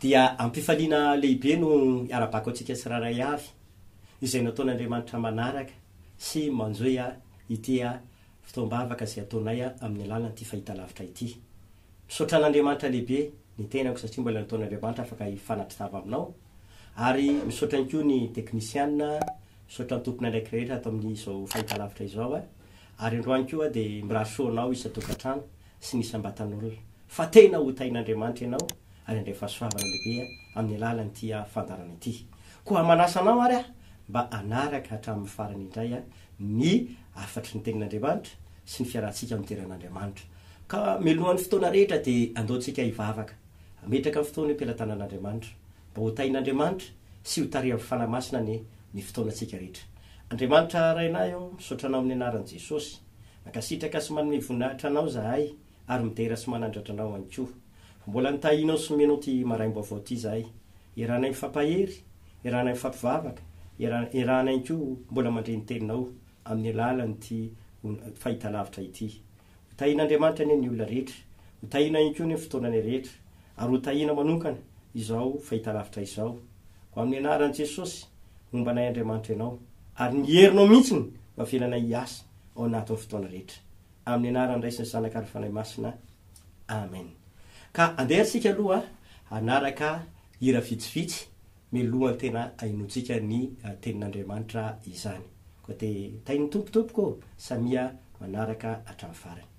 Dia am-pifaliana lehibe no iarabako antsika tsirairay avy izay nataon'Andriamanitra manaraka sy manjohy ity fotoam-bavaka izay ataonay amin'ny alalan'ity fahitalavitra ity. Misaotra an'Andriamanitra lehibe ny tenako satria mbola nataon'Andriamanitra afaka hifanatri-tava aminao ary misaotra ihany koa ny teknisianina, misaotra ny tompon'andraikitra rehetra ato amin'izao fahitalavitra izao ary androany koa dia mirary soa anao isan-tokantrano. sy ny isam-batan'olona, fa tena ho tahin'Andriamanitra ianao ary handray fahasoavana lehibe amin'ny alalan'ity fandaharana ity. Koa manasa anao ary aho mba hanaraka hatramin'ny farany indray ny hafatry ny Tenin'Andriamanitra sy ny fiarahantsika amin'ny toeran'Andriamanitra. Ka mialohan'ny fotoana rehetra dia andaontsika hivavaka, hametraka ny fotoana eo am-pelatanan'Andriamanitra, mba ho tahin'Andriamanitra sy ho tarihan'ny Fanahy Masina anie ny fotoanantsika rehetra. Andriamanitra Rainay ô, misaotra Anao amin'ny anaran'i Jesosy. Mankasitraka sy manome voninahitra anao zahay ary midera sy manandratra anao ihany koa. Mbola nitahianao sy nomenao ity maraim-baovao ity zahay. Iarahanay mifampahery, iarahanay mifampivavaka, iarahana ihany koa mbola mandre ny Teninao amin'ny alalan'ity fahitalavitra ity. Ho tahian'Andriamanitra anie ny olona rehetra, ho tahiana ihany koa anie ny fotoananay rehetra ary ho tahiana manonkana izao fahitalavitra izao. Ho amin'ny anaran'i Jesosy, homba anay Andriamanitra Ianao ary ny herinao mihitsy no havelanay hiasa. ao anatin'ny fotoana rehetra. Amin'ny anaran'ny Ray sy ny Zanaka ary ny Fanahy Masina. Amen. Ka andeha ary isika aloha hanaraka hira vitsivitsy milohan'ny tena ahinoantsika ny tenin'Andriamanitra izany. Koa dia tahin'ny Tompo tompoko ô! Samia manaraka hatramin'ny farany.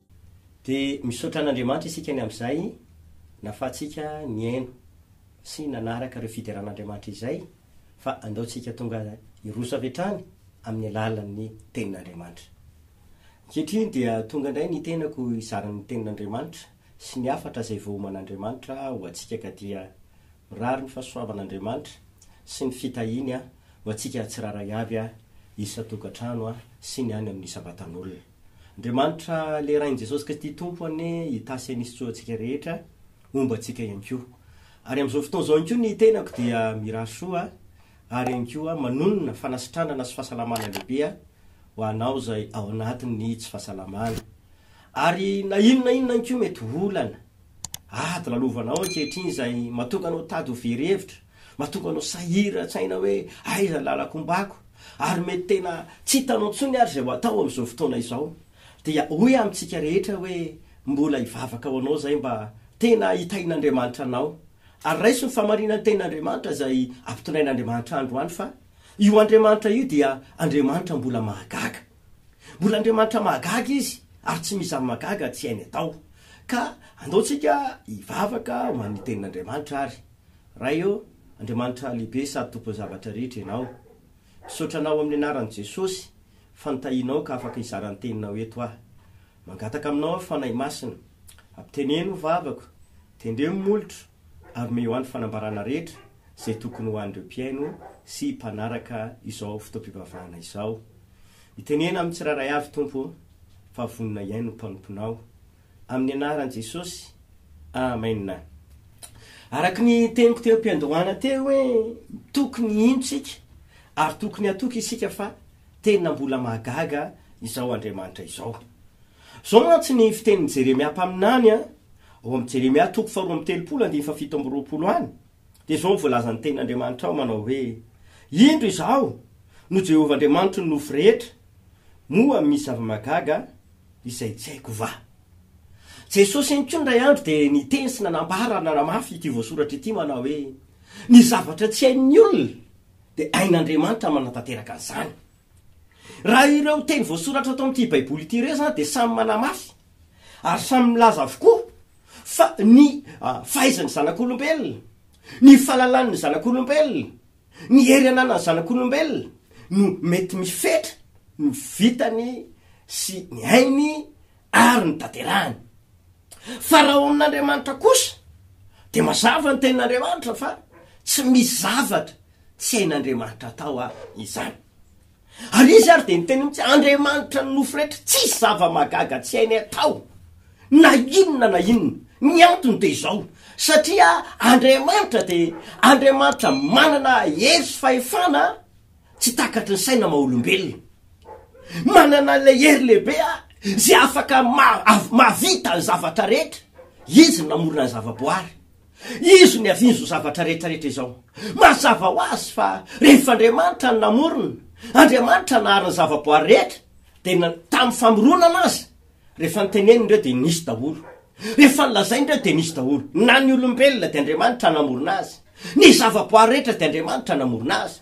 Dia misaotra an'Andriamanitra isika ny amin'izay nahafahantsika nihaino sy nanaraka ireo fideran'Andriamanitra izay, fa andao tsika tonga hiroso avy hatrany amin'ny alalan'ny Tenin'Andriamanitra. Ankehitriny dia tonga indray ny tenako hizara ny Tenin'Andriamanitra sy ny hafatra izay voaoman'Andriamanitra ho antsika ka dia mirary ny fahasoavan'Andriamanitra sy ny fitahiany ho antsika tsirairay avy, isan-tokantrano sy ny any amin'ny isam-batan'olona. Andriamanitra le Rain'i Jesosy Kristy Tompo anie hitasy an'i Isitsoa antsika rehetra homba antsika ihany koa. Ary amin'izao fotoana izao ihany koa ny tenako dia mirary soa ary ihany koa manonona fanasitranana sy fahasalamana lehibe aho ho anao izay ao anatin'ny tsy fahasalamana. Ary na inona inona ihany koa mety ho olana. Ady lalovanao ankehitriny izay mahatonga anao tady ho very hevitra, mahatonga anao sahiran-tsaina hoe aiza ny lalako hombako, ary mety tena tsy hitanao intsony ary izay ho atao amin'izao fotoana izao. Dia hoy amintsika rehetra hoe mbola hivavaka ho anao izay mba tena hitahin'Andriamanitra anao. Ary raiso ny fahamarinan'ny tenin'Andriamanitra izay ampitondrain'Andriamanitra androany fa io Andriamanitra io dia Andriamanitra mbola mahagaga. Mbola Andriamanitra mahagaga Izy ary tsy misy zava-mahagaga tsy hainy atao. Ka andao tsika hivavaka ho an'ny Tenin'Andriamanitra ary. Ray ô, Andriamanitra lehibe sady Tompon'ny zavatra rehetra Ianao. Misaotra Anao amin'ny anaran'i Jesosy fa notahianao ka afaka hizara ny Teninao eto aho. Mangataka aminao aho Fanahy Masina, ampiteneno ny vavako, tendremo ny molotro, ary omeo any fanambarana rehetra izay tokony ho an'ireo mpihaino sy mpanaraka izao fotoam-pivavahana izao. Itenena amin'ny tsirairay avy, Tompo ô, fa vonona hihaino ny mpanomponao. Amin'ny anaran'i Jesosy, amena. Araka ny teniko teo am-piandohana teo hoe tokony hino isika ary tokony hatoky isika fa tena mbola mahagaga izao Andriamanitra izao. Izao mantsy ny fitenin'i Jeremia mpaminany ao amin'ny Jeremia toko faharoa amby telopolo andininy fahafito amby roapolo any, dia izao no voalazan'ny tenin'Andriamanitra ao manao hoe, Indro izaho no Jehovah Andriamanitry ny nofo rehetra, moa misy zava-mahagaga izay tsy haiko va? Jesosy ihany koa indray andro dia niteny sy nanambara ary nanamafy ity voasoratra ity manao hoe, Ny zavatra tsy hain'ny olona dia hain'Andriamanitra manatanteraka an'izany. Raha ireo teny voasoratra ato amin'ity Baiboly ity ireo izany dia samy manamafy ary samy milaza avokoa fa ny fahaizan'ny zanak'olombelona, ny fahalalan'ny zanak'olombelona, ny hery ananan'ny zanak'olombelona no mety mifetra ny vitany sy ny ainy ary ny tanterahany. Fa raha ao amin'Andriamanitra kosa dia mazava ny tenin'Andriamanitra fa tsy misy zavatra tsy hain'Andriamanitra atao a izany. Ary izy ary dia ny teny mitsy Andriamanitra ny nofo rehetra tsy isy zava-magaga tsy hainy atao na inona na inona. Ny antony dia izao satria Andriamanitra dia Andriamanitra manana hery sy fahefana Tsy takatry ny saina maha olombelona. Manana ilay hery lehibe a izay afaka mahavita ny zavatra rehetra. Izy no namorona ny zavaboary. Izy no niaviany izao zavatra rehetra rehetra izao. Mazava ho azy fa rehefa Andriamanitra no namorona, Andriamanitra nahary ny zavaboary rehetra, dia tamin'ny famoronana azy, rehefa niteneniny ireo dia nisy daholo. Rehefa nilazainy ireo dia nisy daholo. Na ny olombelona dia Andriamanitra namorona azy. Ny zavaboary rehetra dia Andriamanitra namorona azy.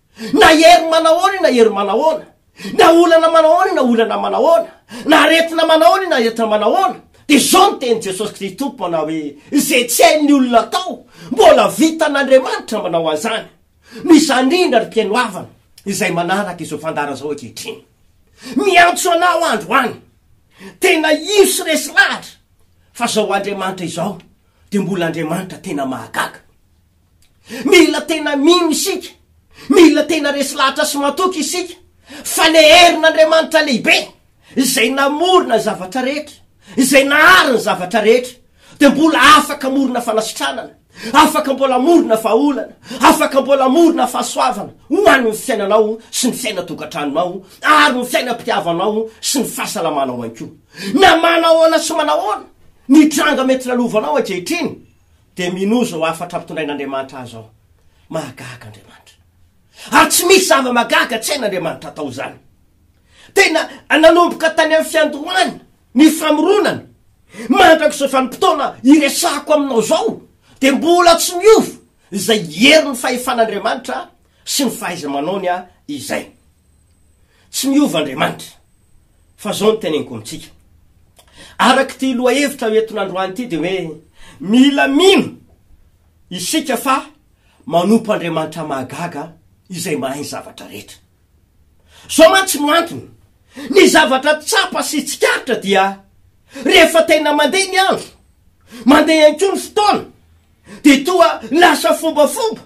Na hery manahoana io na hery manahoana, na olana manahoana io na olana manahoana, na aretina manahoana io na aretina manahoana, dia izao no tenin'i Jesosy Kristy Tompo manao hoe, izay tsy hain'ny olona atao, mbola vitan'Andriamanitra ny manao an'izany. Noho izany indrindra, ry mpihaino havana, izay manaraka izao fandara izao ankehitriny. Miantso anao androany, tena ino sy resy lahatra, fa izao Andriamanitra izao dia mbola Andriamanitra tena mahagaga. Mila tena mino isika, mila tena resy lahatra sy matoky isika fa le herin' Andriamanitra lehibe izay namorona ny zavatra rehetra, izay nahary ny zavatra rehetra dia mbola afaka hamorona fanasitranana, afaka mbola hamorona vahaolana, afaka mbola hamorona fahasoavana ho an' ny fiainanao sy ny fiainan-tokantranonao ary ny fiainam-pitiavanao sy ny fahasalamanao ihany koa. Na manahoana sy manahoana ny tranga mety lalovanao ankehitriny, Dia minoa izao hafatra ampitondrain'Andriamanitra ahy izao, Mahagaga Andriamanitra. Ary tsy misy zava-mahagaga tsy hain'Andriamanitra atao izany. Tena nanomboka tany amin'ny fiandohany ny famoronana, mandrak'izao vanim-potoana iresahako aminao izao, dia mbola tsy miova izay herin'ny fahefan'Andriamanitra sy ny fahaiza-manaony izay. Tsy miova Andriamanitra. Fa zao no teneniko amintsika. Araka ity lohahevitra eto nandroany ity dia hoe mila mino isika fa manompo Andriamanitra mahagaga izay mahay ny zavatra rehetra. Zao mantsy no antony. Ny zavatra tsapa sy tsikaritra dia rehefa tena mandeha ny andro, mandeha ihany koa ny fotoana, dia toa lasa fombafomba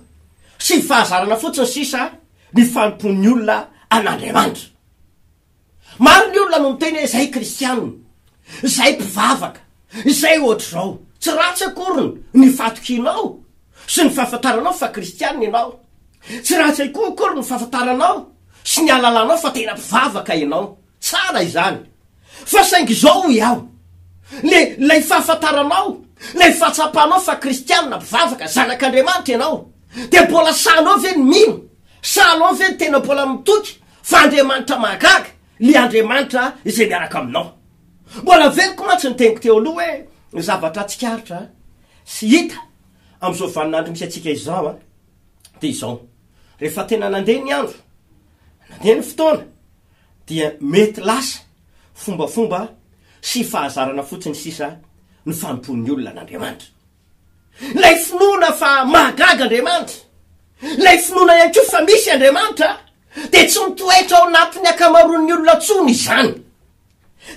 sy fahazarana fotsiny sisa ny fanompoan'ny olona an'Andriamanitra. Maro ny olona no miteny hoe izay kristianina, izay mpivavaka, izay ohatr'izao. Tsy ratsy akoriny ny fatokianao sy ny fahafantaranao fa kristianina ianao. Tsy ratsy ihany koa akory ny fahafantaranao sy ny alalanao fa tena mpivavaka ianao. Tsara izany. Fa saingy izao hoy aho, le ilay fahafantaranao, ilay fahatsapanao fa kristianina, mpivavaka, zanak'Andriamanitra ianao, dia mbola sahanao ve ny mino? Sahanao ve ny tena mbola mitoky Fa Andriamanitra mahagaga, le Andriamanitra izay miaraka aminao. Mbola veloko mantsy ny teniko teo aloha hoe zavatra tsikaritra sy hita amin'izao vaninandro misy antsika izao an, dia izao, rehefa tena nandeha ny andro, nandeha ny fotoana, dia mety lasa fombafomba sy fahazarana fotsiny sisa ny fanompoan'ny olona an'Andriamanitra. Ilay finoana fa mahagaga Andriamanitra, ilay finoana ihany koa fa misy Andriamanitra, dia tsy mitoetra ao anatin'ny ankamaroan'ny olona intsony izany.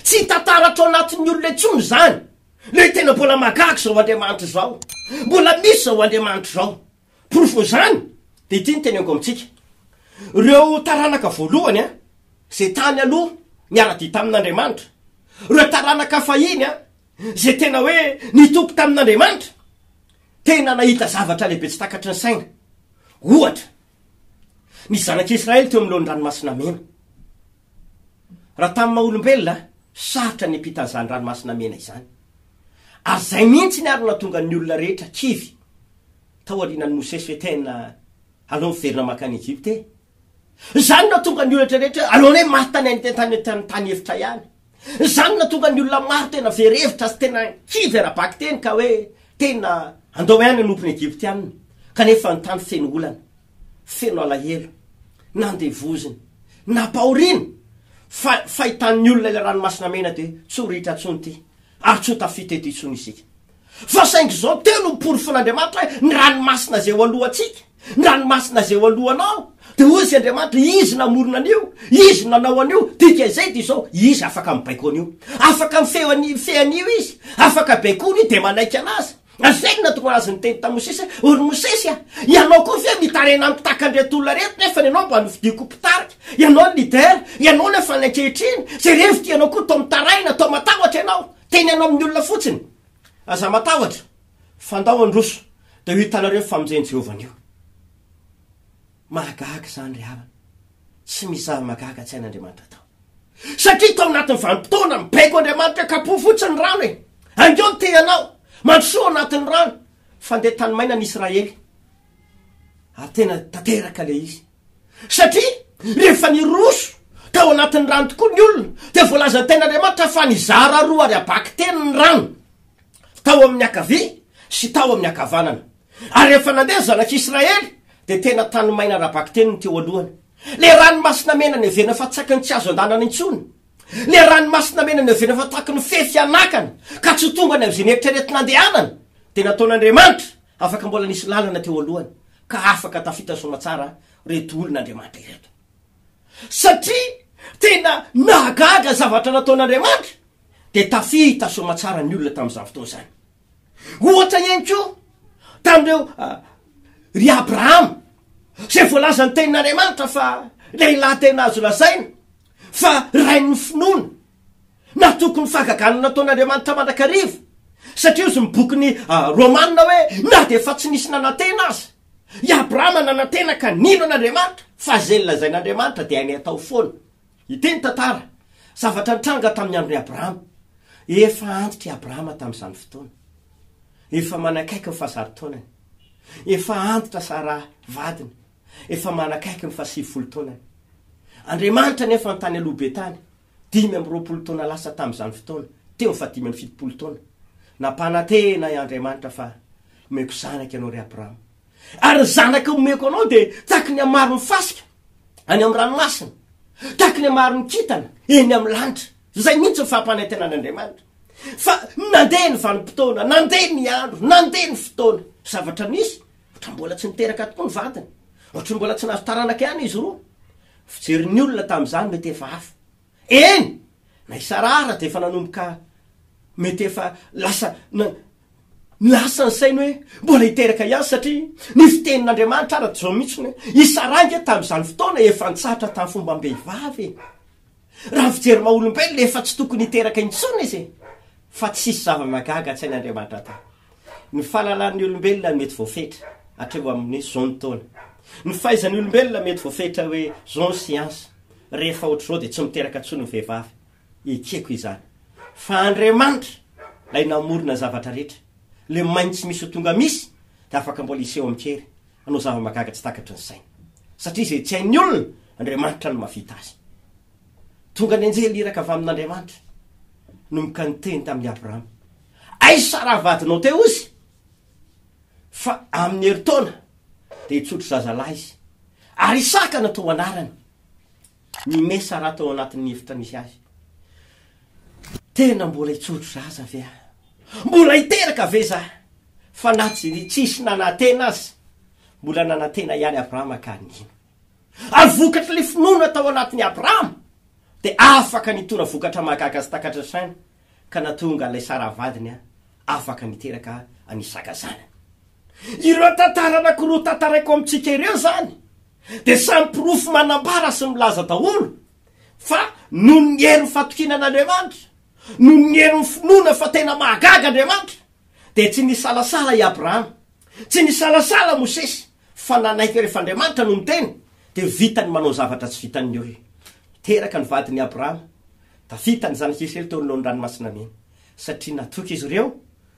Tsy hita taratra ao anatin'ny olona intsony izany. Ilay tena mbola mahagaga izao Andriamanitra izao, mbola misy izao Andriamanitra izao. Porofon'izany dia ity no teneniko amintsika. Ireo taranaka voalohany an, izay tany aloha niara-dia tamin'Andriamanitra, ireo taranaka fahiny an, izay tena hoe nitoky tamin'Andriamanitra, tena nahita zavatra lehibe tsy takatry ny saina. Ohatra, ny zanak'i Israely teo anoloan'ny Ranomasina Mena. Raha tamin'ny maha olombelona, sarotra ny hampita an'izany Ranomasina Mena izany. Ary izay mihitsy ny ary nahatonga ny olona rehetra kivy tao aorianan'i Mosesy hoe tena aleo miverina mankany Egypta e! Izany no nahatonga ny olona rehetra rehetra alohan'ny hoe maty tany an-tany efitra ihany. Izany no nahatonga ny olona maro tena very hevitra sy tena kivy ara-bakiteny ka hoe tena handao aina hanompo ny Egyptianina, kanefa ny tany feno olana, feno alahelo, nandevozina, nampahoriana, fa fahitan'ny olona ilay ranomasina mena dia tsy ho ritra intsony ity, ary tsy ho tafita eto intsony isika. Fa saingy izao teo no noporofoin'Andriamanitra hoe ny ranomasina izay eo alohantsika, ny ranomasina izay eo alohanao, dia hoy Izy Andriamanitra, Izy namorona an'io, Izy nanao an'io, dikan'izay dia izao, Izy afaka mibaiko an'io. Afaka mifehy an'i, mifehy an'io Izy, afaka baikoina io, dia manaiky an'Azy. Ary izay no nahatonga an'Azy niteny tamin'i Mosesy hoe, O ry Mosesy a, ianao koa ve mitaraina mitaka an'ireto olona ireto, nefa ny anao mba nofidiako ho mpitarika, ianao ny leader, ianao nefa ny ankehitriny, izay reviko ianao koa toa mitaraina, toa matahotra ianao, teny ianao amin'ny olona fotsiny. Aza matahotra. Fandao handroso, dia ho hitanareo ny famonjen'i Jehovah anio. Mahagaga izany ry havana. Tsy misy zava-mahagaga tsy hain'Andriamanitra atao. Satria tao anatin'ny vanim-potoana, mibaiko Andriamanitra, kapohy fotsiny ny rano e! Haingeo ny tehanao, mandrosoa ao anatin'ny rano. Fandeha tany maina ny Israely, ary tena tanteraka ilay izy. Satria rehefa niroso tao anatin'ny rano tokoa ny olona, dia voalazan'ny tenin'Andriamanitra fa nizara roa ary habaky telo ny rano. tao amin'ny ankavia sy tao amin'ny ankavanana. Ary rehefa nandeha ny zanak'i Israely, dia tena tany maina ara-bakiteny ny teo alohany. Ilay ranomasina mena niavena fa tsy akany tsy azo andanana intsony. Ilay ranomasina mena niavena fa tahaky ny fefy anakana, ka tsy ho tonga any amin'izay neritreretina handehanana, dia nataon'Andriamanitra afaka mbola nisy lalana teo alohany, ka afaka tafita soamatsara ireto olon'Andriamanitra ireto. Satria tena nahagaga ny zavatra nataon'Andriamanitra. dia tafita soamatsara ny olona tamin'izany fotoana izany. Ohatra ihany koa tamin'ireo ah, ry Abrahama, izay voalazan'ny tenin'Andriamanitra fa lehilahy tena azo lazaina fa rain'ny finoana, natoky ny fahagagana nataon'Andriamanitra mandrakariva, satria ozy ny bokin'ny ah, Romana hoe na dia efa tsy nisy nanantena aza, i Abrahama nanantena ka nino an'Andriamanitra fa izay lazain'Andriamanitra dia hainy atao foana. Hiteny tantara zavatra nitranga tamin'ny andron'i Abrahama. Efa antitra i Abrahama tamin'izany fotoana. Efa manakaiky ny fahazaro taonany. Efa antitra Saraha vadiny. Efa manakaiky ny fahasivifolo taonany. Andriamanitra anefa no tany aloha be tany, dimy amby roapolo taona lasa tamin'izany fotoana, teo amin'ny fahadimy amby fitopolo taona. Nampanantena i Andriamanitra fa, Homeko zanaka ianao, ry Abrahama. Ary ny zanaka omeko anao dia tahaky ny hamaron'ny fasika any amin'ny ranomasina, tahaky ny hamaron'ny kintana eny amin'ny lanitra. Izay mihitsy ny fampanetenan'Andriamanitra. Fa nandeha ny vanim-potoana, nandeha ny andro, nandeha ny fotoana. Zavatra nisy, ohatra mbola tsy niteraka tokoa ny vadiny, ohatra mbola tsy nahazo taranaka ihany izy roa. Ny fijerin'ny olona tamin'izany mety efa hafa. Eny! Na i Saraha ara dia efa nanomboka mety efa lasa na lasa ny sainy hoe mbola hiteraka ihany satria ny fitenin'Andriamanitra ara dia izao mihitsiny hoe i Saraha ange tamin'izany fotoana efa nitsahatra tamin'ny fombam-behivavy e! Raha ny fijery maha-olombelona efa tsy tokony hiteraka intsony izy e! Fa tsisy zava-mahagaga an-tsain'Andriamanitra tao. Ny fahalalan'ny olombelona mety voafetra hatreo amin'ny zon taona. Ny fahaizan'ny olombelona mety voafetra hoe zon siansa. Rehefa ohatr'izao dia tsy miteraka intsony ny vehivavy. Ekeko izany. Fa Andriamanitra, ilay namorona ny zavatra rehetra, ilay main tsy misy ho tonga misy, dia afaka mbola hiseho amin-kery, hanao zava-mahagaga tsy takatry ny saina. Satria izay tsy hain'ny olona, Andriamanitra no mahavita azy. Tonga ny anjely iraka avy amin'Andriamanitra, nomboka niteny tamin'i Abrahama. Aiza raha vadinao teo izy? Fa amin'ny herintaona dia hitsotro zazalahy izy. Ary Isaka no atao anarany. Ny mesa raha tao anatin'ny efitra misy azy. Tena mbola hitsotro zaza ve aho? Mbola hiteraka ve za? Fa na tsisy nanantena aza, mbola nanantena ihany Abrahama ka nino. Ary vokatr'ilay finoana tao anatin'i Abrahama dia afaka nitona vokatra mahagaga sy takatra saina. ka natonga an'ilay Sara vadiny afaka niteraka an'i Isaka zanany. Ireo tantara anankiroa tantaraiko amintsika ireo izany dia samy porofo manambara sy milaza daholo fa noho ny herin'ny fatokiana an'Andriamanitra, noho ny herin'ny finoana fa tena mahagaga Andriamanitra, dia tsy nisalasala i Abrahama. Tsy nisalasala Mosesy fa nanaiky rehefa Andriamanitra no niteny dia vitany manao zavatra tsy vitan'ny olona. Niteraka ny vadiny Abrahama, Davida, ny zanak'i Israely teo anoloan'ny Ranomasina Mena satria natoky izy ireo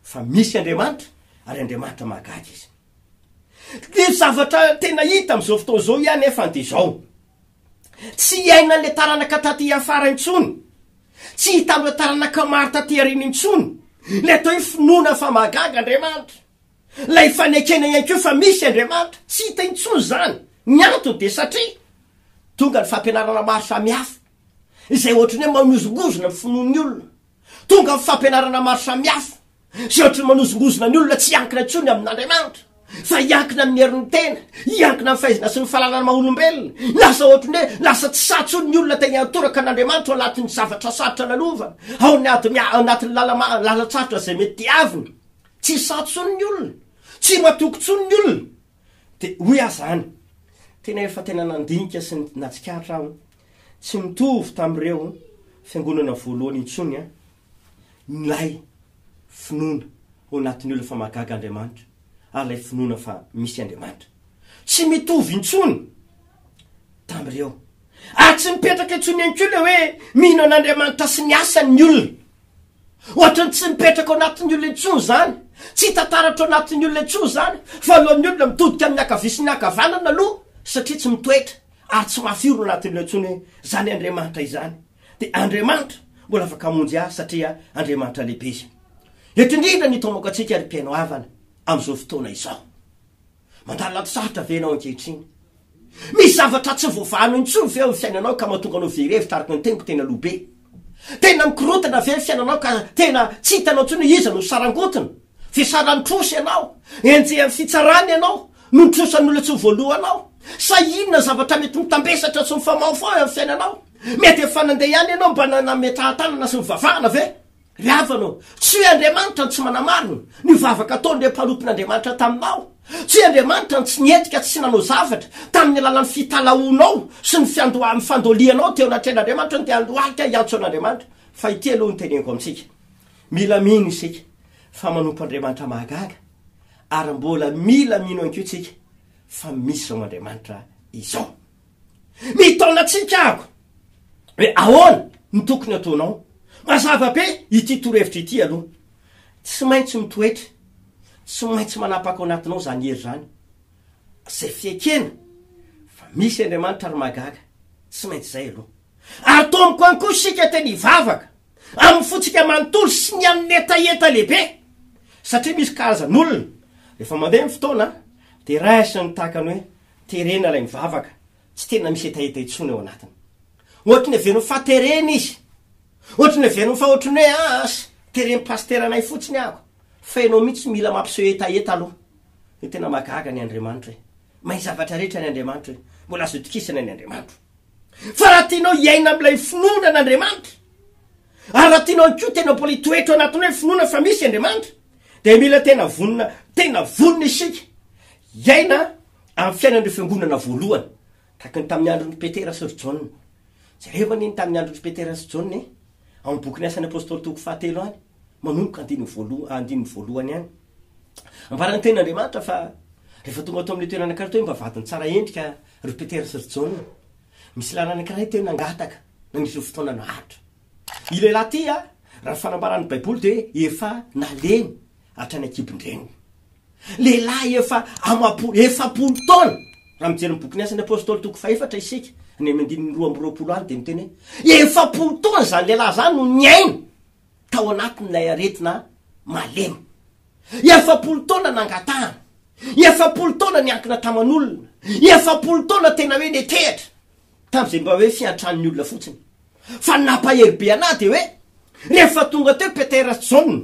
fa misy Andriamanitra ary Andriamanitra mahagaga izy. Ny zavatra tena hita amin'izao fotoana izao ihany anefa dia izao. Tsy hiainan'ilay taranaka taty afara intsony, tsy hita amin'ireo taranaka maro taty aoriana intsony ilay atao hoe finoana fa mahagaga Andriamanitra. Ilay fanekena ihany koa fa misy Andriamanitra, tsy hita intsony izany. Ny antony dia satria tonga ny fampianarana maro samihafa, izay ohatran'ny hoe manozongozona ny finoan'ny olona. Tonga ny fampianarana maro samihafa, Tsy ohatry ny manozongozona ny olona tsy hiankina intsony amin'Andriamanitra, fa hiankina amin'ny herin'ny tena, hiankina amin'ny fahaizana sy ny fahalalana maha olombelona. Lasa ohatry ny hoe lasa tsy sahy intsony ny olona te hiantoraka an'Andriamanitra ao anatin'ny zavatra sarotra nanaovany, ao anatin'ny lalan-tsarotra izay mety diaviny. Tsy sahy intsony ny olona, tsy matoky intsony ny olona. Dia hoy aho izany, tena efa tena nandinika sy natsikaritra aho, tsy mitovy tamin'ireo fiangonana voalohany intsony Milay finoana ao anatin'ny olona fa mahagaga Andriamanitra ary ilay finoana fa misy Andriamanitra. Tsy mitovy intsony tamin'ireo. Ary tsy mipetraka intsony ihany koa ilay hoe mino an'Andriamanitra sy ny asany ny olona. Ohatra ny tsy mipetraka ao anatin'ny olona intsony izany. Tsy hita taratra ao anatin'ny olona intsony izany. Voalohany ny olona mitodika amin'ny ankavia sy ny ankavanana aloha satria tsy mitoetra ary tsy mafy orina ao anatin'ireo intsony hoe izany Andriamanitra izany. dia Andriamanitra mbola afaka hamonjy azy satria Andriamanitra lehibe Izy. Eto indrindra ny tomoko antsika ry mpihaino havana amin'izao fotoana izao. Mandalo anaty sarotra ve ianao ankehitriny? Misy zavatra tsy voavahanao intsony ve ao amin'ny fiainanao ka mahatonga anao very hevitra araka ny teniko tena lo be? Tena mikorontana ve ny fiainanao ka tena tsy hitanao intsony hoe iza no sarangotiny? Fisaran'ny trosa ianao? Enjehan'ny fitsarana ianao noho ny trosan'ny olona tsy ho voaloa anao? Sa inona ny zavatra mety mitambesatra sy mifamaofao eo amin'ny fiainanao? Mety efa nandeha ihany ianao mba nametrahan-tanana sy nivavahana ve? Ry havana ô, tsy hoe Andriamanitra no tsy manamarina ny vavaka ataon'ireo mpanompin'Andriamanitra taminao. Tsy hoe Andriamanitra no tsy nihetika sy nanao zavatra tamin'ny alalan'ny fitalahoanao sy ny fiandohan'ny fandolianao teo anatrehan'Andriamanitra no te handroahika hiantso an'Andriamanitra. Fa ity aloha no teneniko amintsika, mila mino isika fa manompo Andriamanitra mahagaga, ary mbola mila mino ihany koa isika fa misy izao Andriamanitra izao. Mitaona antsika aho hoe ahoana no tokony hataonao. Mazava be ity torohevitra ity aloha. Tsy maintsy mitoetra, tsy maintsy manapaka ao anatinao izany hery izany. Izay fiekena fa misy Andriamanitra ary mahagaga, tsy maintsy izay aloha. Ary tomboka any koa isika tena hivavaka amin'ny fontsika manontolo sy ny amin'ny hetaheta lehibe. Satria misy karazan'olona rehefa mandeha ny fotoana dia raisiny tahaka ny hoe Terena ilay mivavaka, tsy tena misy hetaheta intsony ao anatiny. Ohatry ny heveriny fa terena izy. Ohatry ny heveriny fa ohatry ny hoe aas, teren'ny pasiteranay fotsiny aho. Fa ianao mihitsy mila mampiseho hetaheta aloha. Dia tena mahagaga ny Andriamanitra e! Mahay zavatra rehetra ny Andriamanitra e! Mbola azo itokisana ny Andriamanitra. Fa raha tianao hiaina amin'ilay finoana an'Andriamanitra, ary raha tianao ihany koa tena mbola hitoetra ao anatin'ny hoe finoana fa misy Andriamanitra, Dia mila tena vonona, tena vonona isika hiaina amin'ny fiainan'ireo fiangonana voalohany, tahaka ny tamin'ny andron'i Petera sy ry Jaona. Jereo anie ny tamin'ny andron'i Petera sy Jaona e, ao amin'ny bokin'ny asan'ny Apôstôly toko fahatelo any, manomboka andininy voalohany, andininy voalohany any. Ambaran'ny tenin'Andriamanitra fa rehefa tonga tao amin'ny toerana anankiray teo mba vadiny tsara endrika ry Petera sy ry Jaona. Misy lalana anankiray teo nangataka na misy fotoana naharitra. I lehilahy ity, raha ny fanambaran'ny Baiboly, dia efa nalemy hatrany an-kibon-dreniny. Lehilahy efa amam-po, efapolo taona! Raha mijery ny bokin'ny Asan'ny Apostoly toko fahefatra isika, any amin'ny andininy roa amby roapolo any, dia miteny hoe efapolo taona izany lehilahy izany no niaina tao anatin'ilay aretina malemy. Efapolo taona nangatahana. Efapolo taona niankina taman'olona. Efapolo taona tena hoe netehatra. Tamin'izay mba hoe fiantran'ny olona fotsiny. Fa ny nampahery be anahy dia hoe rehefa tonga teo Petera sy Jaona,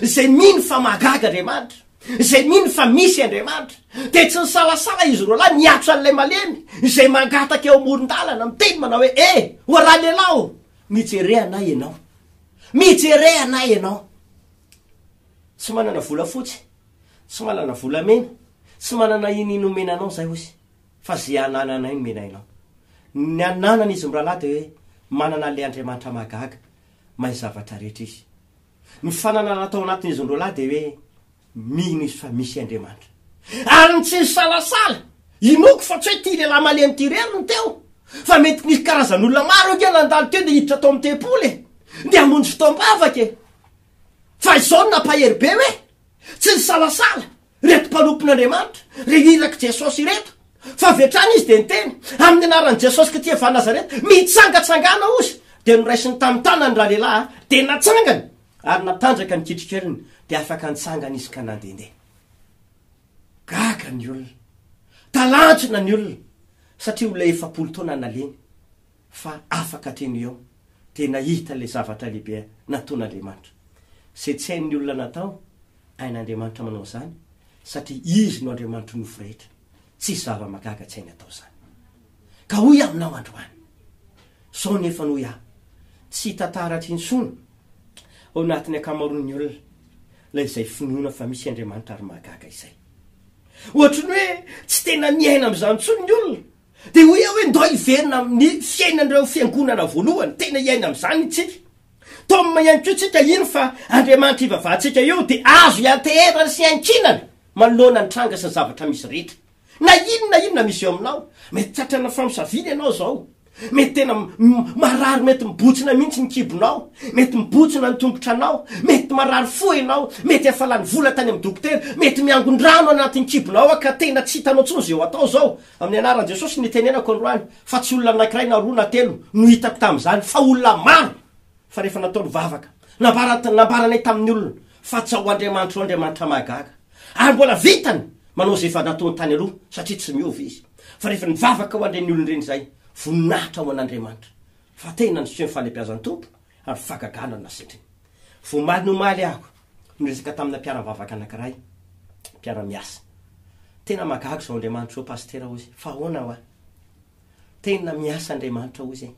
izay mino fa mahagaga Andriamanitra, izay mino fa misy Andriamanitra, dia tsy nisalasala izy roa lahy niato an'ilay malemy izay mangataka eo amoron-dalana, miteny manao hoe, E! O Ralehilahy o! Mijere anay ianao. Mijere anay ianao. Tsy manana volafotsy, tsy manana volamena, tsy manana inona omena anao izahay, hozy. Fa ze anananay no menainao. Ny ananany izy mirahalahy dia hoe manana an'ilay Andriamanitra mahagaga, mahay zavatra rehetra izy. Ny fananana tao anatin'izy ny roalahy dia hoe mino izy fa misy Andriamanitra. Ary ny tsy nisalasala, inoako fa tsy hoe ity lehilahy malemy ity irery no teo, fa mety nisy karazan'olona maro ange nandalo teo dia hiditra tao amin'ny tempoly e! Dia hamonjy fotoam-bavaka e! Fa izao no nampahery be hoe tsy nisalasala Ireto mpanompon'Andriamanitra, ireo irak'i Jesosy ireto, fa avy hatrany izy dia niteny, Amin'ny anaran'i Jesosy Kty avy any Nazareta, mitsangatsangana hozy! Dia noraisiny tamin'ny tanany ralehilahy, dia natsangany, ary natanjaka ny kitrikeliny, dia afaka nitsangana izy ka nandehandeha. Gaga ny olona, talanjona ny olona, satria olona efapolo taona naleny. fa afaka teny ho eo dia nahita ilay zavatra lehibe nataon'Andriamanitra. Izay tsy hain'ny olona natao, hain'Andriamanitra manao izany, satria Izy no Andriamanitry ny nofo rehetra. Tsisy zava-mahagaga tsy hainy atao izany. Ka hoy aminao androany, izao ny efa noy ahy, tsy hita taratra intsony ao anatin'ny ankamaroan'ny olona ilay izay finoana fa misy Andriamanitra ary mahagaga izay. Ohatry ny hoe tsy tena miaina amin'izany intsony ny olona, Dia hoy aho hoe ndao hiverina amin'ny fiainan'ireo fiangonana voalohany, tena hiaina amin'izany isika. Tom ihany koa isika hino fa Andriamanitra ivavahantsika eo dia azo ianteherana sy iankinana manoloana ny tranga sy ny zavatra misy rehetra. Na inona na inona misy eo aminao, mety tratrana famosaviana ianao izao, mety tena marary mety mibotsina mihitsy ny kibonao, mety mibotsina ny tongotranao, mety marary fo ianao, mety efa lany vola tany amin'ny dokotera, mety miangon-drano anatin'ny kibonao ka tena tsy hitanao intsony izay ho atao izao, Amin'ny anaran'i Jesosy no nitenenako androany fa tsy olona anankiray na roa na telo no hitako tamin'izany fa olona maro fa rehefa natao ny vavaka nambarany nambaranay tamin'ny olona fa tsy ao Andriamanitra ao Andriamanitra mahagaga ary mbola vitany manao izay efa nataony tany aloha satria tsy miova izy fa rehefa nivavaka ho an'ireny olona ireny izahay voninahitra ho an'Andriamanitra fa tena niseho ny fahalebiazan'ny Tompo ary fahagagana no nasetriny. Voamaly ny omaly aho. Niresaka tamina mpiara-mivavaka anankiray mpiara-miasa. Tena mahagaga izao Andriamanitra izao Pasitera hozy. Fa ahoana hoa? Tena miasa Andriamanitra hozy e!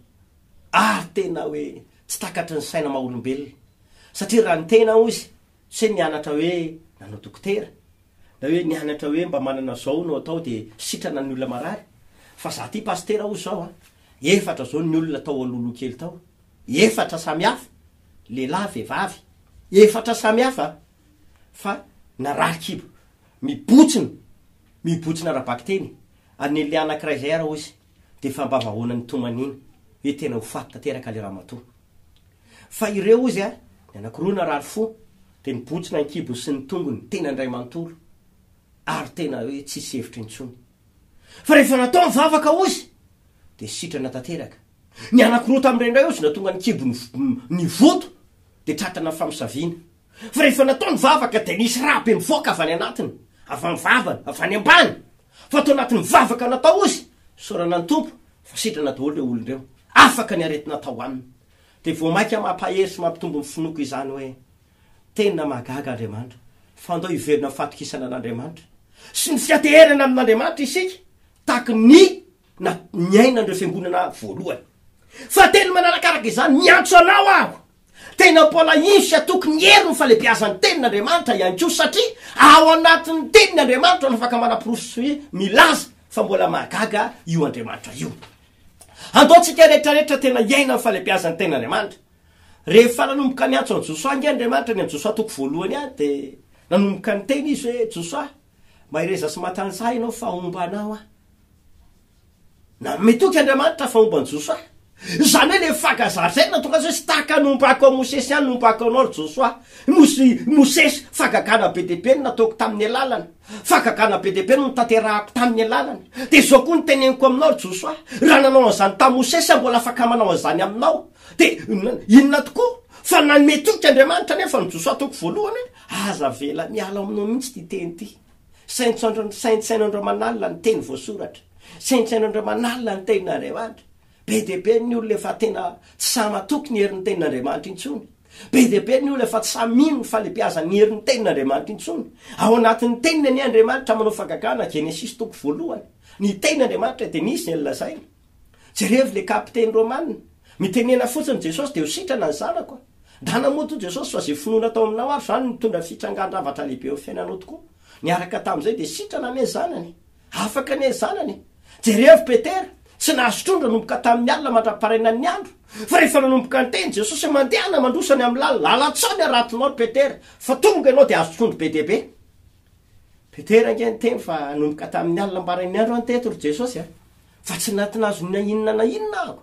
Ary tena hoe tsy takatry ny saina maha olombelona. Satria raha ny tena hozy, tsy hoe nianatra hoe nanao dokotera, na hoe nianatra hoe mba manana izao no atao dia sitrana ny olona marary. Fa izaho ity Pasitera hozy izao an, efatra izao ny olona tao alohaloha kely tao. Efatra samy hafa. lehilahy vehivavy efatra samy hafa fa narary kibo mibotsina mibotsina ara-bakiteny an'ny lehilahy anankiray izay ary hoy izy dia efa mba vahoana nitomaniana hoe tena ho faty tanteraka ilay ramatoa fa ireo hoy izy ny anankiroa narary fo dia nibotsina ny kibony sy ny tongony tena indray manontolo ary tena hoe tsisy hevitra intsony fa rehefa natao ny vavaka hoy izy dia sitrana tanteraka Ny anankiroa tamin'ireo indray aozy na tonga nikibo ny voto dia tratana ny famosaviana. Fa rehefa natao ny vavaka dia nisy rà be mivoaka avy any anatiny, avy amin'ny vavany, avy any ambany. Fa tao anatin'ny vavaka natao ozy, isaorana ny Tompo fa sitrana daholo ireo olona ireo. Afaka ny aretina tao aminy. Dia vao mainka mampahery sy mampitombo ny finoako izany hoe, Tena mahagaga Andriamanitra, fa andao hiverina amin'ny fahatokisana an'Andriamanitra sy ny fianteherana amin'Andriamanitra isika, tahaka ny na ny ainan'ireo fiangonana voalohany. Fahatelo manarakaraka izany, miantso anao aho, tena mpalahino sy hatoky ny hery ny falebiazan'ny tenin'Andriamanitra ihany koa, satria ao anatin'ny teniny Andriamanitra no afaka manaporofo sy milaza fa mbola mahagaga io Andriamanitra io. Andaontsika rehetrarehetra tena hiaina ny falebiazan'ny tenin'Andriamanitra. Rehefa nanomboka niantso an'i Josoa ange Andriamanitra ny an'i Josoa toko voalohany any, dia nanomboka niteny izy hoe, Josoa, mahereza sy matanjaha ianao fa homba anao aho. Nanome toky Andriamanitra fa homba an'i Josoa. Izany hoe ilay fankazary izay natokana azy hoe tsy tahaka ny ompa hakao Mosesy ihany ny ompa hakao anao ry Josoa. Nosy Mosesy, fagagana be dia be no nataoko tamin'ny alalany. Fagagana be dia be no notanterahako tamin'ny alalany. Dia izao koa no teneniko aminao ry Josoa, raha nanao an'izany tamin'i Mosesy aho mbola afaka manao an'izany aminao. Dia inona tokoa? Fa nanome toky Andriamanitra anefa an'i Josoa, toko voalohany, hoe aza avela miala ao aminao mihitsy ity teny ity. Saintsaino Andramanalina ny teny voasoratra, saintsaino Andramanalina ny tenin'Andriamanitra. Be dia be ny olona efa tena tsy sahy matoky ny herin'ny tenin'Andriamanitra intsony. Be dia be ny olona efa tsy sahy mino ny falebiazan'ny herin'ny tenin'Andriamanitra intsony. Ao anatin'ny teniny anie Andriamanitra manao fagagana, Genesisy toko voalohany. Ny tenin'Andriamanitra dia nisy izay nolazainy. Jerevo le kapiteny romana. Mitenena fotsiny Jesosy de ho sitrana ny zanako. Ndana moa toa Jesosy fa ze finoana tao aminao ary zany nitondra fitrangan-dravatra lehibe eo fiainanao tokoa. Niaraka tamzay de sitrana anie zanany e. Afaka anie zanany e. Jerevo Petera, tsy nahazo trondro nanomboka tamin'ny alina mandra-parainan'ny andro. Fa rehefa nanomboka niteny Jesosy hoe mandehana mandroso any amin'ny lalana, lalan-tsaho ny haratinao ry Petera, fa tonga ianao de hahazo trondro be dia be. Petera ange niteny fa nanomboka tamin'ny alina am-parain'ny andro an teto ry Jesosy a. Fa tsy natinazo na inona na inona aho,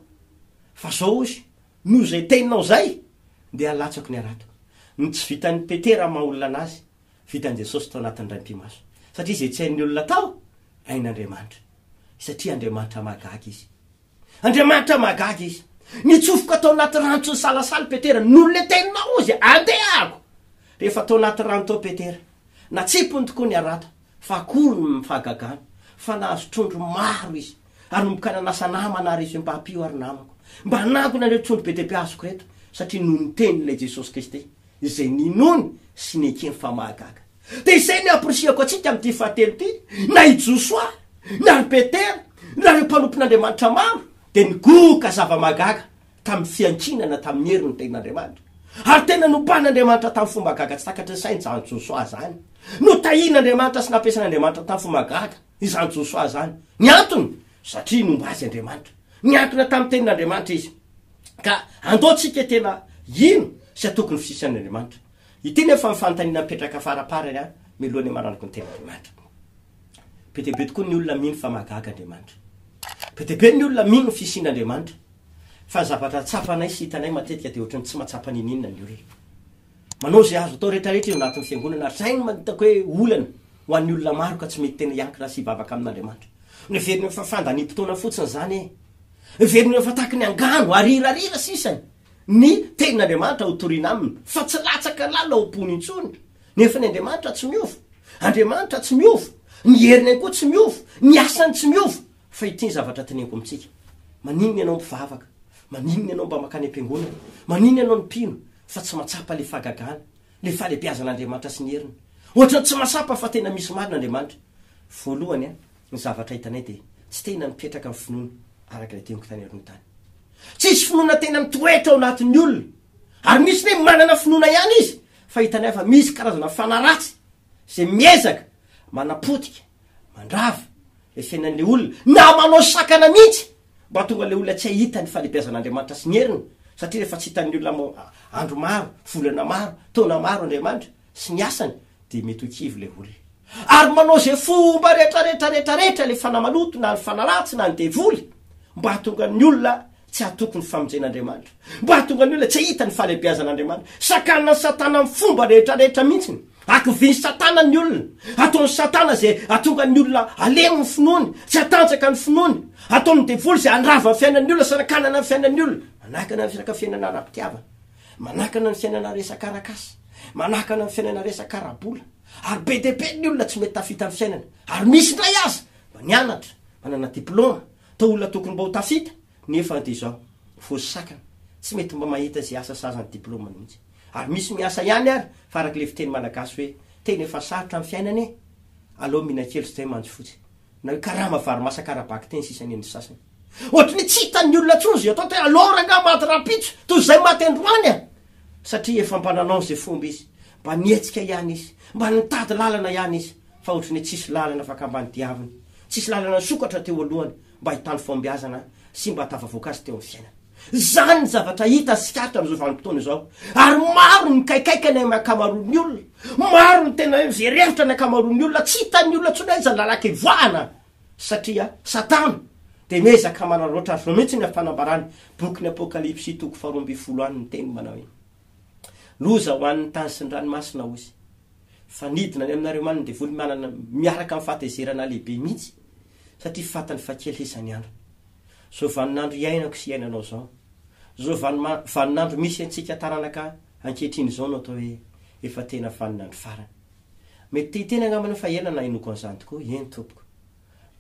fa zao ozy, noho izay teninao zay dia alatsako ny harato. Ny tsy vitan'i Petera maha olona anazy, vitan'i Jesosy tao anatin'ny raim-pimaso. Satria izay tsy hain'ny olona atao, hain'Andriamanitra. Satria Andriamanitra mahagaga izy. Andriamanitra mahagaga izy. Nitsofoka tao anaty rano tsy nisalasala i Petera, noho ilay teninao ozy, andehako. Rehefa tao anaty rano tao Petera, natsipiny tokoa ny harato. Fa akory ny fahagagana fa nahazo trondro maro izy. Hanomboka nanasa namana ary izy hoe, Mba ampio ary namako. Mba hanangona ireo trondro be dia be azoko ireto. Satria noho ny tenin'ilay Jesosy Kristy, izay ninoany sy nekeny fa mahagaga. Dia izay ny hampirisihako antsika amin'ity fahatelo ity, na i Josoa, na ry Petera, na ireo mpanompon'Andriamanitra maro, dia nigoka zava-mahagaga tamin'ny fiankinana tamin'ny hery ny tenin'Andriamanitra, ary tena nompahan'Andriamanitra tamin'ny fomba gaga tsy takatry ny sainy izany Josoa izany. Notahian'Andriamanitra sy nampiasain'Andriamanitra tamin'ny fomba gaga izany Josoa izany. Ny antony? Satria nomba azy Andriamanitra. Niankina tamin'ny tenin'Andriamanitra izy. Ka andao tsika tena hino sy hatoky ny fisian'Andriamanitra. Ity nefa ny fanontaniana mipetraka faraparany an, miloha ny hamaranako ny tenin'Andriamanitra. Be dia be tokoa ny olona mino fa mahagaga Andriamanitra. Be dia be ny olona mino ny fisian'Andriamanitra. Fa ny zavatra tsapanay sy hitanay matetika dia ohatran'ny tsy mahatsapa n'inon'inona ny olona. Manao izay azo atao rehetrarehetra eo anatin'ny Fiangonana ary izay no hitako hoe olana ho an'ny olona maro ka tsy mety tena hiankina sy hivavaka amin'Andriamanitra. Heveriny hoe fa fandaniam-potoana fotsiny izany e! Heveriny hoe fa tahaka ny angano ary hirariana sisa ny Tenin'Andriamanitra hotorina aminy fa tsy latsaka lalina ao am-pony intsony. Nefa ny Andriamanitra tsy miova. Andriamanitra tsy miova. Ny heriny ihany koa tsy miova. Ny asany tsy miova. Fa ity ny zavatra teneniko amintsika, Maninona ianao mpivavaka? Maninona ianao mba mankany am-piangonana? Maninona ianao no mpino fa tsy mahatsapa ilay fahagagana, ilay fahalehibeazan'Andriamanitra sy ny heriny? Ohatran'ny tsy mahatsapa fa tena misy marina Andriamanitra. Voalohany, ny zavatra hitanay dia tsy tena mipetraka ny finoana araka ilay teniko tany aloha tany. Tsisy finoana tena mitoetra ao anatin'ny olona. Ary misy ny hoe manana finoana ihany izy fa hitanay fa misy karazana fanahy ratsy izay miezaka manapotika mandrava le fiainan'le olona na manao sakana mihitsy mba tonga le olona tsy hahita ny falebiazan'Andriamanitra sy ny heriny satria rehefa tsy hitan'ny olona am andro maro volana maro taona maro Andriamanitra sy ny asany dia mety ho kivy le olona ary manao izay fomba rehetrarehetra rehetrarehetra le fanahy maloto na ny fanahy ratsy na ny devoly mba hahatonga ny olona Tsy hatoky ny famonjen'Andriamanitra. Mba hahatonga ny olona tsy hahita ny fahalehibiazan'Andriamanitra. Sakanan'i Satana amin'ny fomba rehetra rehetra mihitsiny. Hakivin'i Satana ny olona. Hataon'i Satana izay hahatonga ny olona halemy ny finoany, tsy hatanjaka ny finoany. Hataon'ny devoly izay handrava ny fiainan'ny olona sy hanakanana ny fiainan'ny olona. Manakana ny resaka fiainana ara-pitiavana. Manakana ny fiainana resaka arak'asa. Manakana ny fiainana resaka ara-bola. Ary be dia be ny olona tsy mety tafita amin'ny fiainana. Ary misy indray aza mba nianatra, manana diplaoma, Toa olona tokony mba ho tafita nefa dia izao voasakana, tsy mety mba mahita izay asa sahaza ny diplaoma mihitsy. Ary misy miasa ihany ary fa araka ilay fiteny malagasy hoe tena efa sarotra ny fiainana e! aleo mihinan-kely sy zay manjo fotsiny. Na hoe karama vary masaka ara-baky teny sisa nen'ny sasany. Ohatry ny tsy hitan'ny olona intsony izay atao tena alors angaha maty rahampitso toy izay maty androany a! satria efa mba nanao izay fomba izy, mba nihetsika ihany izy, mba nitady lalana ihany izy. fa ohatry ny tsisy lalana afaka ambany diaviny, tsisy lalana nisokatra teo alohany mba hahitany fahombiazana sy mba hahatafavoaka azy teo amin'ny fiainana. Izany ny zavatra hita sy hatra amin'izao vanim-potoana izao, ary maro ny mikaikaika ny amin'ny ankamaroan'ny olona, maro ny tena hoe mijery hevitra ny ankamaroan'ny olona, tsy hitan'ny olona intsony aiza ny lalan-kevoahana, satria Satana dia miezaka manararaotra azy. Izao mihitsy ny amin'ny fanambarany, bokin'ny Apokalypsy toko faharoa ambin'ny folo any, miteny manao hoe, Loza ho an'ny tany sy ny ranomasina, hoy Izy. fa nidina any aminareo manana devoly manana miaraka amin'ny fahatezerana lehibe mihitsy satria fatiny fa kely sisa ny andro zao vaninandro iainako sy iainanao zao zao vanima vaninandro misy antsika taranaka ankehitriny izao no atao hoe efa tena vaninandro farany mety te hiteny angamba anao fa ela nahenoako an'izany tokoa eny tompoko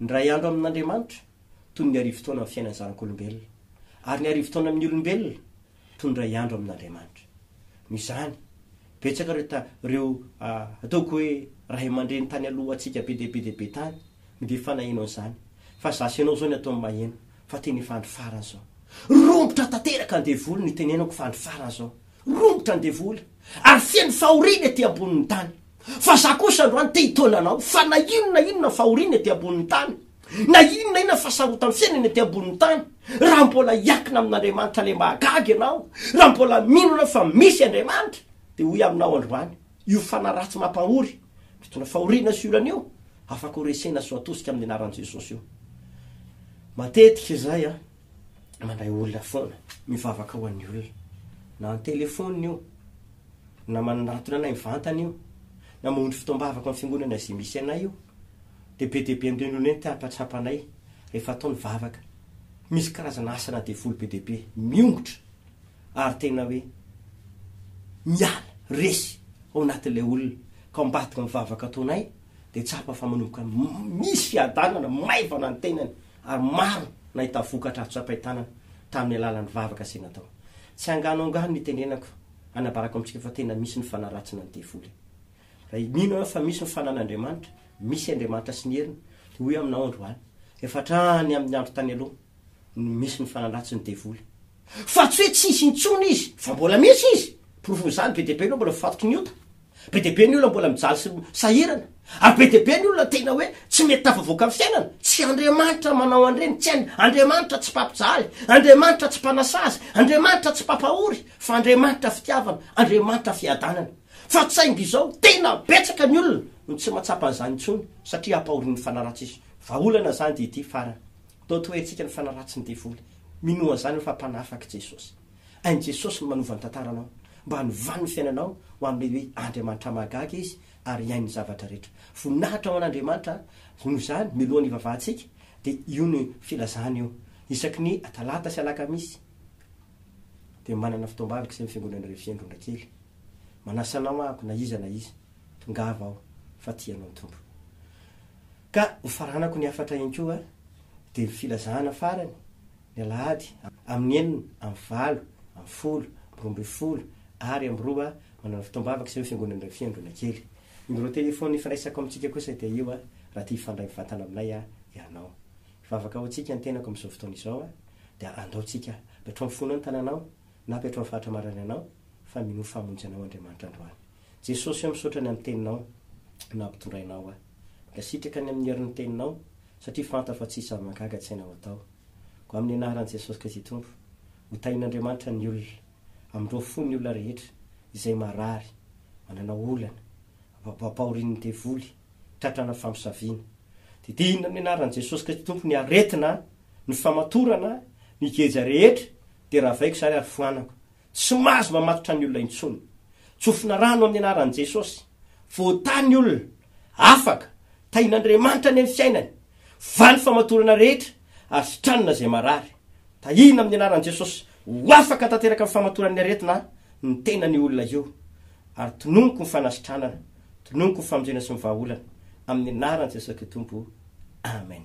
ny ray andro amin'Andriamanitra toy ny arivo taona amin'ny fiainan'ny zanak'olombelona ary ny arivo taona amin'ny olombelona toy ny iray andro amin'Andriamanitra. Noho izany, betsaka ireo ta, ireo, ataoko hoe, ray aman-dreny tany alohantsika be dia be dia be tany no dia efa naheno an'izany. Fa izaho sy ianao izao ny ataon'ny maheno fa tena efa andro farany izao. Romotra tanteraka ny devoly no itenenako fa andro farany izao. Romotra ny devoly. Ary feno fahoriana ety ambonin'ny tany. Fa izaho kosa androany te-hitaona anao fa na inona na inona fahoriana ety ambonin'ny tany. Na inona na inona fahasarotan'ny fiainana ety ambonin'ny tany, raha mbola hiakina amin'Andriamanitra lemahagaga ianao, raha mbola mino ianao fa misy Andriamanitra, dia hoy aminao androany, io fanahy ratsy mampahory, mitondra fahoriana sy olana io, afaka horesena sy ho atosika amin'ny anaran'i Jesosy io. Matetika izahay an, mandray olona foana, mivavaka ho an'ny olona, na an-telefaonina io, na manatona anay mivantana io, na maondry fotoam-bavaka amin'ny fiangonana izay misy anay io, dia be dia be amin'ireo ny olona entina hampahatsapa anay rehefa atao ny vavaka. Misy karazana asana devoly be dia be miongotra ary tena hoe miala resy ao anatin'ilay olona, ka ao ambadika ny vavaka ataonay dia tsapa fa manomboka misy fiadanana, maivana ny tenany ary maro ny nahita vokatra azo tsapain-tanana tamin'ny alalan'ny vavaka izay natao. Tsy angano angano ny itenenako Hanabarako amintsika fa tena misy ny fanaratsina ny devoly. Raha mino ianao fa misy ny fananan'Andriamanitra, misy Andriamanitra sy ny heriny, dia hoy aminao androany, efa hatrany amin'ny andro tany aloha no misy ny fanaratsiny devoly. Fa tsy hoe tsy hisy intsony izy, fa mbola misy izy. Porofon'izany be dia be ireo mbola voafatoky ny ota. Be dia be ny olona mbola mijaly sy sahirana, ary be dia be ny olona tena hoe tsy mety tafavoaka amin'ny fiainana. Tsy Andriamanitra manao an'ireny, tsy hainy. Andriamanitra tsy mpampijaly, Andriamanitra tsy mpanasazy, Andriamanitra tsy mpampahory, fa Andriamanitra fitiavana, Andriamanitra fiadanana. Fa saingy izao, tena betsaka ny olona no tsy mahatsapa an'izany intsony, satria ampahorin'ny fanaratsy izy. Vahaolana izany dia ity farany. Totohetsika ny fanaratsy ny devoly. Minoa an'izany aho fa mpanafaka i Jesosy. Hain'i Jesosy ny manova ny tantaranao, mba hanovany ny fiainanao ho amin'ilay hoe Andriamanitra mahagaga Izy ary hihaino ny zavatra rehetra. Voninahitra ho an'Andriamanitra, noho izany, mialoha ny hivavahantsika, dia io no filazana io. Isaky ny Talata sy Alakamisy dia manana fotoam-bavaka izay amin'ny Fiangonana Refy Andronakely. Manasa anao ahako, na iza na iza, tongava ao, fa tia anao ny Tompo. Ka hofaranako ny hafatra ihany koa, dia ny filazana farany, ny alahady amin'ny enina amby valo amby folo amby roa ambin'ny folo ary amby roa manana fotoam-bavaka sy ireo fiangonana iray fiangonana kely. Numéro téléphone ifiraisako amintsika kosa dia io raha te hifandray mivantana aminay ianao. Hivavaka ho antsika ny tenako amin'izao fotoana izao dia andao tsika avy hatrao amin'ny fonao ny tananao na avy hatrao amin'ny faritra marary anao fa minoa famonjy anao Andriamanitra androany. Jesosy o misaotra ny amin'ny teninao nampitondrainao ahy. Dia sitraka any amin'ny herin'ny teninao, satria fantatro fa tsisy zava-mahagaga tsy hainao atao. Koa amin'ny anaran'i Jesosy Kristy Tompo, ho tahin'Andriamanitra ny olona. Amindroa fo ny olona rehetra, izay marary, manana olana, ampahorin'ny devoly, tratra ana famosaviana. Didina amin'ny anaran'i Jesosy Kristy Tompo ny aretina, ny famatorana, ny geja rehetra, dia ravaiko izany ary foanako. Tsy mahazo mamatotra ny olona intsony. Tsofina rano amin'ny anaran'i Jesosy. Voatahy ny olona. Afaka. Tahian'Andriamanitra anie ny fiainany. Valo famatorana rehetra ary sitranina izay marary. Tahiana amin'ny anaran'i Jesosy ho afaka tanteraka ny famatoran'ny aretina ny tenany io olona io. Ary tononiko ny fanasitranana. Tononiko ny famonjena sy ny vahaolana. Amin'ny anaran'i Jesosy Kristy Tompo. Amen.